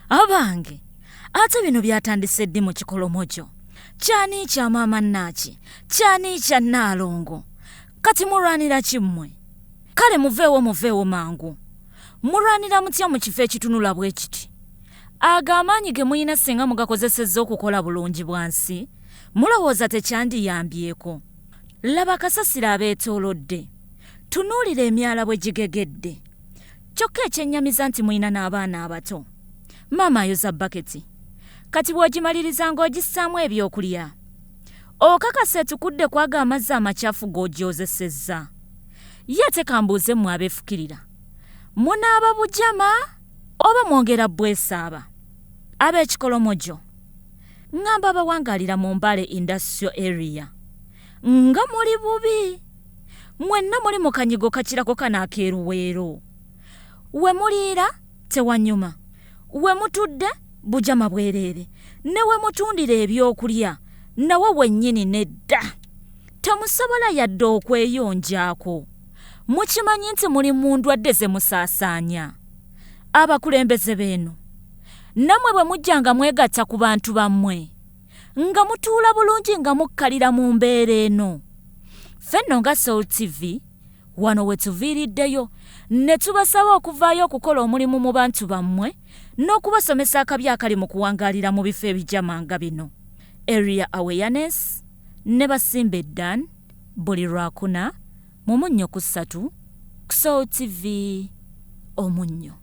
abange ate bino byatandise ddi mu kikolomo kyo kyani kya maama nnaaki kyani kya nnaalongo kati mulwanira ki mmwe kale muveewo muveewo mangu mulwanira mutya mu kifo ekitunula bwe kiti ago amaanyi ge mulina singa mugakozesezza okukola bulungi bwansi mulowooza tekyandiyambyeko laba kasasiro abeetoolodde tunuulira emyala bwe gigegedde Kyokka ekyennyamiza nti mulina n'abaana abato. Maama ayoza baketi. Kati bw'ogimaliriza ng'ogissaamu ebyokulya. Okakasa etukudde ku ago amazzi amacafu g'ogyozesezza. Ye ate kambuuze mmwe abeefukirira. Munaaba bujama oba mwongera bbwesaaba? Ab'ekikolomojo. Ng'amba abawangaalira mu Mbale Industrial Area. nga muli bubi mwenna muli mu kanyigo kakirako kano akeeruweero we muliira tewanyuma we mutudde bujama bwereere ne we mutundira ebyokulya nawo wennyini nedda temusobola yadde okweyonjaako mukimanyi nti muli mu ndwadde ze musaasaanya abakulembeze beeno nammwe bwe mujja nga mwegatta ku bantu bammwe nga mutuula bulungi nga mukkalira mu mbeera eno ffe nno nga soul tv wano we tuviiriddeyo ne tubasaba okuvaayo okukola omulimu mu bantu bammwe n'okubasomesa akabi akali mu kuwangaalira mu bifo ebijama nga bino area awareness ne basimba eddan buli lwakuna mu munnyo ku ssatu ku soul tv omunnyo